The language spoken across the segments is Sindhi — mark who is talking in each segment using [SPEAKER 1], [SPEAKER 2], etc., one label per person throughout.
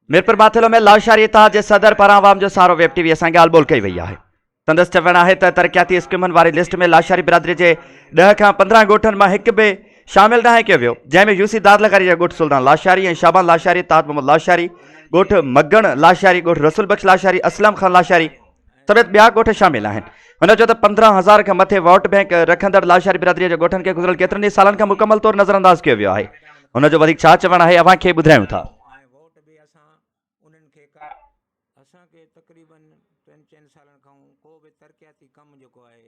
[SPEAKER 1] ميرپورماٿيلو ۾ لاشاري اتحاد جي صدر پاران عوام جو سهارو ويب ٽي وي سان ڳالهه ٻولهه ڪئي وئي آهي سندس چوڻ آهي ته ترقياتي اسڪيمن واري لسٽ ۾ لاشاري برادري جي ڏهه کان پندرهن ڳوٺن مان هڪ به شامل ناهي ڪيو ويو جنهن ۾ يوسي دار لغاري جا ڳوٺ سلطان لاشاري ۽ شابان لاشاري تاج محمد لاشاري ڳوٺ مگڻ لاشاري ڳوٺ رسول بخش لاشاري اسلم خان لاشاري سميت ٻيا ڳوٺ شامل آهن هن چيو ته پندرهن هزار کان مٿي ووٽ بئنڪ رکندڙ لاشاري برادري جي ڳوٺن کي گذريل ڪيترن ئي سالن کان مڪمل طور نظر انداز ڪيو ويو آهي هن جو وڌيڪ ڇا چوڻ آهي اوهان کي ٻڌايون ٿا تقريبن ٽن چئن
[SPEAKER 2] سالن کان ڪو به ترقياتي ڪم جيڪو آهي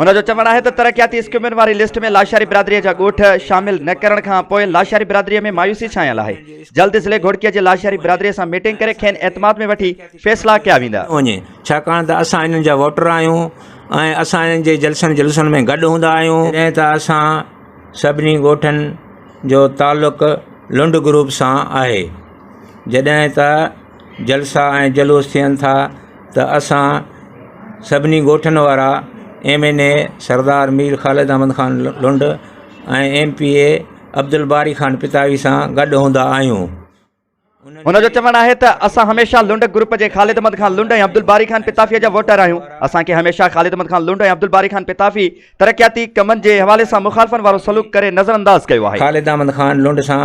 [SPEAKER 2] هن جو چوڻ آهي ته
[SPEAKER 1] ترقياتي اسڪيمن واري لسٽ ۾ لاشاري برادري جا ڳوٺ شامل نه ڪرڻ کان پوء لاشاري برادري ۾ مايوسي ڇانيل آهي جلد ضلعي گهوڙڪي جي لاشاري برادري سان ميٽنگ ڪري کين اعتماد ۾ وٺي فيصلا ڪيا ويندا وڃي ڇاڪاڻ ته
[SPEAKER 2] اسان انهن جا ووٽر آهيون ۽ اسان انهن جي جلسن جلوسن ۾ گڏ هوندا آهيون جڏهن ته اسان سڀني ڳوٺن جو تعلق لنڊ گروپ سان آهي جڏهن ته جلسا ۽ جلوس ٿين ٿا ته اسان سڀني ڳوٺن وارا M N A Sardar Mir Khalid Ahmed Khan Lund ۽ M P A Abdul الباري Khan Pitafi سان گڏ هوندا آهيون
[SPEAKER 1] هن جو چوڻ آهي ته اسان هميشه لنڊ گروپ جي خالد احمد خان لنڊ ۽ عبد الباري خان پتافي جا ووٽر آهيون اسان کي هميشه خالد احمد خان لنڊ ۽ عبد الباري خان پتافي ترقياتي ڪمن جي حوالي سان مخالفن وارو سلوڪ ڪري نظرانداز ڪيو آهي خالد احمد خان لنڊ
[SPEAKER 2] سان